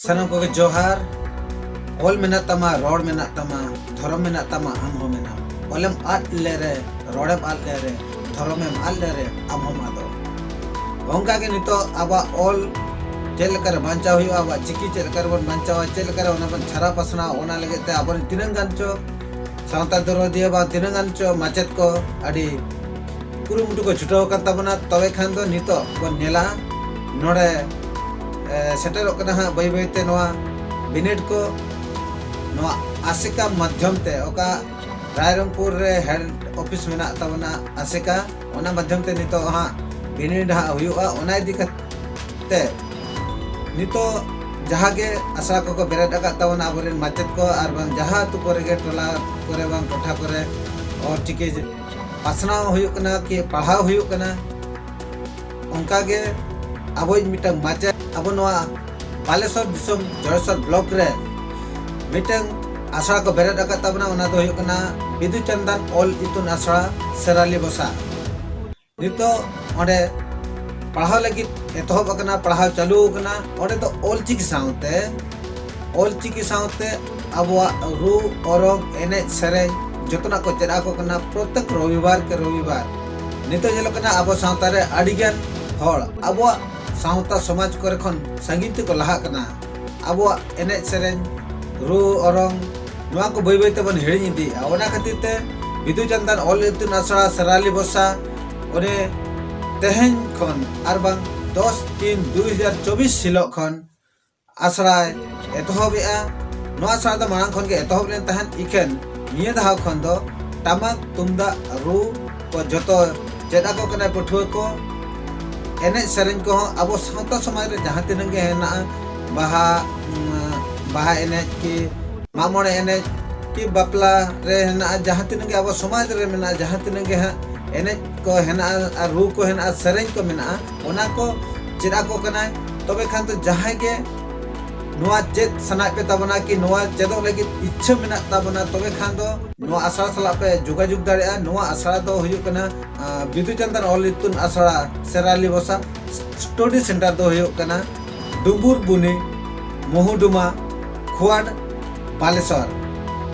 ᱥᱟᱱᱟᱢ ᱠᱚᱜᱮ ᱡᱚᱦᱟᱨ ᱚᱞ ᱢᱮᱱᱟᱜ ᱛᱟᱢᱟ ᱨᱚᱲ ᱢᱮᱱᱟᱜ ᱛᱟᱢᱟ ᱫᱷᱚᱨᱚᱢ ᱢᱮᱱᱟᱜ ᱛᱟᱢᱟ ᱟᱢ ᱦᱚᱸ ᱢᱮᱱᱟᱢ ᱚᱞᱮᱢ ᱟᱫ ᱞᱮᱨᱮ ᱨᱚᱲᱮᱢ ᱟᱫ ᱞᱮᱨᱮ ᱫᱷᱚᱨᱚᱢ ᱮᱢ ᱟᱫ ᱞᱮᱨᱮ ᱟᱢ ᱦᱚᱢ ᱟᱫᱚᱜ ᱚᱱᱠᱟ ᱜᱮ ᱱᱤᱛᱚᱜ ᱟᱵᱚᱣᱟᱜ ᱚᱞ ᱪᱮᱫ ᱞᱮᱠᱟᱨᱮ ᱵᱟᱧᱪᱟᱣ ᱦᱩᱭᱩᱜᱼᱟ ᱟᱵᱚᱣᱟᱜ ᱪᱤᱠᱤ ᱪᱮᱫ ᱞᱮᱠᱟᱨᱮ ᱵᱚᱱ ᱵᱟᱧᱪᱟᱣᱟ ᱪᱮᱫ ᱞᱮᱠᱟᱨᱮ ᱚᱱᱟ ᱵᱚᱱ ᱪᱷᱟᱨᱟ ᱯᱟᱥᱱᱟᱣ ᱚᱱᱟ ᱞᱟᱹᱜᱤᱫ ᱛᱮ ᱟᱵᱚᱨᱮᱱ ᱛᱤᱱᱟᱹᱜ ᱜᱟᱱ ᱪᱚ ᱥᱟᱶᱛᱟ ᱫᱚᱨᱚᱫᱤᱭᱟᱹ ᱵᱟ ᱛᱤᱱᱟᱹᱜ ᱜᱟᱱ ᱪᱚ ᱢᱟᱪᱮᱫ ᱠᱚ ᱟᱹᱰᱤ ᱠᱩᱨᱩᱢᱩᱴᱩ ᱠᱚ ᱪᱷᱩᱴᱟᱹᱣ ᱟᱠᱟᱱ ᱛᱟᱵᱚᱱᱟ ᱛᱚᱵᱮ ᱠᱷᱟᱱ ᱫᱚ ᱱᱤᱛᱚᱜ ᱵᱚᱱ ᱧᱮᱞᱟ ᱱᱚᱰᱮ ᱥᱮᱴᱮᱨᱚᱜ ᱠᱟᱱᱟ ᱦᱟᱸᱜ ᱵᱟᱹᱭ ᱵᱟᱹᱭᱛᱮ ᱱᱚᱣᱟ ᱵᱤᱱᱤᱰ ᱠᱚ ᱱᱚᱣᱟ ᱟᱥᱮᱠᱟ ᱢᱟᱫᱽᱫᱷᱚᱢ ᱛᱮ ᱚᱠᱟ ᱨᱟᱭᱨᱚᱝᱯᱩᱨ ᱨᱮ ᱦᱮᱰ ᱚᱯᱷᱤᱥ ᱢᱮᱱᱟᱜ ᱛᱟᱵᱚᱱᱟ ᱟᱥᱮᱠᱟ ᱚᱱᱟ ᱢᱟᱫᱽᱫᱷᱚᱢ ᱛᱮ ᱱᱤᱛᱚᱜ ᱦᱟᱸᱜ ᱵᱤᱱᱤᱰ ᱦᱟᱸᱜ ᱦᱩᱭᱩᱜᱼᱟ ᱚᱱᱟ ᱤᱫᱤ ᱠᱟᱛᱮ ᱱᱤᱛᱚᱜ ᱡᱟᱦᱟᱸ ᱜᱮ ᱟᱥᱲᱟ ᱠᱚᱠᱚ ᱵᱮᱨᱮᱫ ᱟᱠᱟᱫ ᱛᱟᱵᱚᱱᱟ ᱟᱵᱚᱨᱮᱱ ᱢᱟᱪᱮᱫ ᱠᱚ ᱟᱨ ᱵᱟᱝ ᱡᱟᱦᱟᱸ ᱟᱹᱛᱩ ᱠᱚᱨᱮ ᱜᱮ ᱴᱚᱞᱟ ᱠᱚᱨᱮ ᱵᱟᱝ ᱴᱚᱴᱷᱟ ᱠᱚᱨᱮ ᱚᱞᱪᱤᱠᱤ ᱯᱟᱥᱱᱟᱣ ᱦᱩᱭᱩᱜ ᱠᱟᱱᱟ ᱠᱤ ᱯᱟᱲᱦᱟᱣ ᱦᱩᱭᱩᱜ ᱠᱟᱱᱟ ᱚᱱᱠᱟ ᱜᱮ ᱟᱵᱚᱭᱤᱡ ᱢᱤᱫᱴᱟᱝ ᱢᱟᱪᱮᱫ ᱟᱵᱚ ᱱᱚᱣᱟ ᱵᱟᱞᱮᱥᱚᱨ ᱫᱤᱥᱚᱢ ᱡᱚᱲᱮᱥᱚᱨ ᱵᱞᱚᱠ ᱨᱮ ᱢᱤᱫᱴᱟᱝ ᱟᱥᱲᱟ ᱠᱚ ᱵᱮᱨᱮᱫ ᱟᱠᱟᱫ ᱛᱟᱵᱚᱱᱟ ᱚᱱᱟ ᱫᱚ ᱦᱩᱭᱩᱜ ᱠᱟᱱᱟ ᱵᱤᱫᱩ ᱪᱟᱱᱫᱟᱱ ᱚᱞ ᱤᱛᱩᱱ ᱟᱥᱲᱟ ᱥᱮᱨᱟᱞᱤ ᱵᱚᱥᱟ ᱱᱤᱛᱚᱜ ᱚᱸᱰᱮ ᱯᱟᱲᱦᱟᱣ ᱞᱟᱹᱜᱤᱫ ᱮᱛᱚᱦᱚᱵ ᱟᱠᱟᱱᱟ ᱯᱟᱲᱦᱟᱣ ᱪᱟᱹᱞᱩ ᱟᱠᱟᱱᱟ ᱚᱸᱰᱮ ᱫᱚ ᱚᱞ ᱪᱤᱠᱤ ᱥᱟᱶᱛᱮ ᱚᱞ ᱪᱤᱠᱤ ᱥᱟᱶᱛᱮ ᱟᱵᱚᱣᱟᱜ ᱨᱩ ᱚᱨᱚᱝ ᱮᱱᱮᱡ ᱥᱮᱨᱮᱧ ᱡᱚᱛᱚᱱᱟᱜ ᱠᱚ ᱪᱮᱫ ᱟᱠᱚ ᱠᱟᱱᱟ ᱯᱨᱚᱛᱮᱠ ᱨᱚᱵᱤᱵᱟᱨ ᱠᱮ ᱨᱚᱵᱤᱵᱟᱨ ᱱᱤᱛᱚᱜ ᱧᱮᱞᱚᱜ ᱠᱟᱱᱟ ᱟᱵᱚ ᱥᱟᱶᱛᱟ ᱨᱮ ᱟᱹᱰᱤ ᱜᱟᱱ ᱦᱚᱲ ᱟᱵᱚᱣᱟᱜ ᱥᱟᱶᱛᱟ ᱥᱚᱢᱟᱡᱽ ᱠᱚᱨᱮ ᱠᱷᱚᱱ ᱥᱟᱺᱜᱤᱧ ᱛᱮᱠᱚ ᱞᱟᱦᱟᱜ ᱠᱟᱱᱟ ᱟᱵᱚᱣᱟᱜ ᱮᱱᱮᱡ ᱥᱮᱨᱮᱧ ᱨᱩ ᱚᱨᱚᱝ ᱱᱚᱣᱟ ᱠᱚ ᱵᱟᱹᱭ ᱵᱟᱹᱭ ᱛᱮᱵᱚᱱ ᱦᱤᱲᱤᱧ ᱤᱫᱤᱭᱮᱫᱼᱟ ᱚᱱᱟ ᱠᱷᱟᱹᱛᱤᱨ ᱛᱮ ᱵᱤᱫᱩ ᱪᱟᱸᱫᱟᱱ ᱚᱞ ᱤᱛᱩᱱ ᱟᱥᱲᱟ ᱥᱮᱨᱟᱞᱤ ᱵᱚᱥᱟ ᱚᱱᱮ ᱛᱮᱦᱮᱧ ᱠᱷᱚᱱ ᱟᱨ ᱵᱟᱝ ᱫᱚᱥ ᱛᱤᱱ ᱫᱩ ᱦᱟᱡᱟᱨ ᱪᱚᱵᱵᱤᱥ ᱦᱤᱞᱳᱜ ᱠᱷᱚᱱ ᱟᱥᱲᱟᱭ ᱮᱛᱚᱦᱚᱵᱮᱜᱼᱟ ᱱᱚᱣᱟ ᱟᱥᱲᱟ ᱫᱚ ᱢᱟᱲᱟᱝ ᱠᱷᱚᱱ ᱜᱮ ᱮᱛᱚᱦᱚᱵ ᱞᱮᱱ ᱛᱟᱦᱮᱸᱫ ᱤᱠᱷᱟᱹᱱ ᱱᱤᱭᱟᱹ ᱫᱷᱟᱣ ᱠᱷᱚᱱ ᱫᱚ ᱴᱟᱢᱟᱠ ᱛᱩᱢᱫᱟᱜ ᱨᱩ ᱠᱚ ᱡᱚᱛᱚ ᱪᱮᱫ ᱟᱠᱚ ᱠᱟᱱᱟ ᱯᱟᱹᱴᱷᱩᱣᱟᱹ ᱠᱚ ᱮᱱᱮᱡ ᱥᱮᱨᱮᱧ ᱠᱚᱦᱚᱸ ᱟᱵᱚ ᱥᱟᱶᱛᱟ ᱥᱚᱢᱟᱡᱽ ᱨᱮ ᱡᱟᱦᱟᱸ ᱛᱤᱱᱟᱹᱜ ᱜᱮ ᱦᱮᱱᱟᱜᱼᱟ ᱵᱟᱦᱟ ᱵᱟᱦᱟ ᱮᱱᱮᱡ ᱠᱤ ᱢᱟᱜ ᱢᱚᱬᱮ ᱮᱱᱮᱡ ᱠᱤ ᱵᱟᱯᱞᱟ ᱨᱮ ᱦᱮᱱᱟᱜᱼᱟ ᱡᱟᱦᱟᱸ ᱛᱤᱱᱟᱹᱜ ᱜᱮ ᱟᱵᱚ ᱥᱚᱢᱟᱡᱽ ᱨᱮ ᱢᱮᱱᱟᱜᱼᱟ ᱡᱟᱦᱟᱸ ᱛᱤᱱᱟᱹᱜ ᱜᱮ ᱦᱟᱸᱜ ᱮᱱᱮᱡ ᱠᱚ ᱦᱮᱱᱟᱜᱼᱟ ᱟᱨ ᱨᱩ ᱠᱚ ᱦᱮᱱᱟᱜᱼᱟ ᱥᱮᱨᱮᱧ ᱠᱚ ᱢᱮᱱᱟᱜᱼᱟ ᱚᱱᱟ ᱠᱚ ᱪᱮᱫ ᱟᱠᱚ ᱠᱟᱱᱟᱭ ᱛᱚᱵᱮ ᱠᱷᱟᱱ ᱫᱚ ᱡᱟᱦᱟᱸᱭ ᱜᱮ ᱱᱚᱣᱟ ᱪᱮᱫ ᱥᱟᱱᱟᱭᱮᱫ ᱯᱮ ᱛᱟᱵᱚᱱᱟ ᱠᱤ ᱱᱚᱣᱟ ᱪᱮᱫᱚᱜ ᱞᱟᱹᱜᱤᱫ ᱤᱪᱪᱷᱟᱹ ᱢᱮᱱᱟᱜ ᱛᱟᱵᱚᱱᱟ ᱛᱚᱵᱮ ᱠᱷᱟᱱ ᱫᱚ ᱱᱚᱣᱟ ᱟᱥᱲᱟ ᱥᱟᱞᱟᱜ ᱯᱮ ᱡᱳᱜᱟᱡᱳᱜᱽ ᱫᱟᱲᱮᱭᱟᱜᱼᱟ ᱱᱚᱣᱟ ᱟᱥᱲᱟ ᱫᱚ ᱦᱩᱭᱩᱜ ᱠᱟᱱᱟ ᱵᱤᱫᱩ ᱪᱟᱸᱫᱟᱱ ᱚᱞ ᱤᱛᱩᱱ ᱟᱥᱲᱟ ᱥᱮᱨᱟᱞᱤ ᱵᱚᱥᱟ ᱥᱴᱚᱰᱤ ᱥᱮᱱᱴᱟᱨ ᱫᱚ ᱦᱩᱭᱩᱜ ᱠᱟᱱᱟ ᱰᱩᱢᱵᱩᱨ ᱵᱩᱱᱤ ᱢᱚᱦᱩᱰᱩᱢᱟ ᱠᱷᱳᱣᱟᱰ ᱵᱟᱞᱮᱥᱚᱨ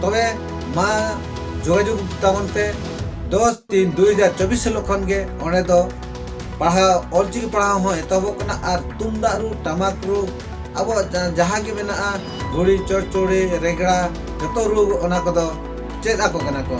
ᱛᱚᱵᱮ ᱢᱟ ᱡᱳᱜᱟᱡᱳᱜᱽ ᱛᱟᱵᱚᱱ ᱯᱮ ᱫᱚᱥ ᱛᱤᱱ ᱫᱩ ᱦᱟᱡᱟᱨ ᱪᱚᱵᱵᱤᱥ ᱦᱤᱞᱳᱜ ᱠᱷᱚᱱ ᱜᱮ ᱚᱸᱰᱮ ᱫᱚ ᱯᱟᱲᱦᱟᱣ ᱚᱞᱪᱤᱠᱤ ᱯᱟᱲᱦᱟᱣ ᱦᱚᱸ ᱮᱛᱚᱦᱚᱵᱚᱜ ᱠᱟᱱᱟ ᱟᱨ ᱛᱩᱢᱫᱟᱜ ᱨᱩ ᱴᱟᱢᱟᱠ ᱨᱩ ᱟᱵᱚᱣᱟᱜ ᱡᱟᱦᱟᱸ ᱜᱮ ᱢᱮᱱᱟᱜᱼᱟ ᱜᱷᱩᱲᱤ ᱪᱚᱲᱪᱚᱲᱤ ᱨᱮᱜᱽᱲᱟ ᱡᱚᱛᱚ ᱨᱩ ᱚᱱᱟ ᱠᱚᱫᱚ ᱪᱮᱫ ᱟᱠᱚ ᱠᱟᱱᱟ ᱠᱚ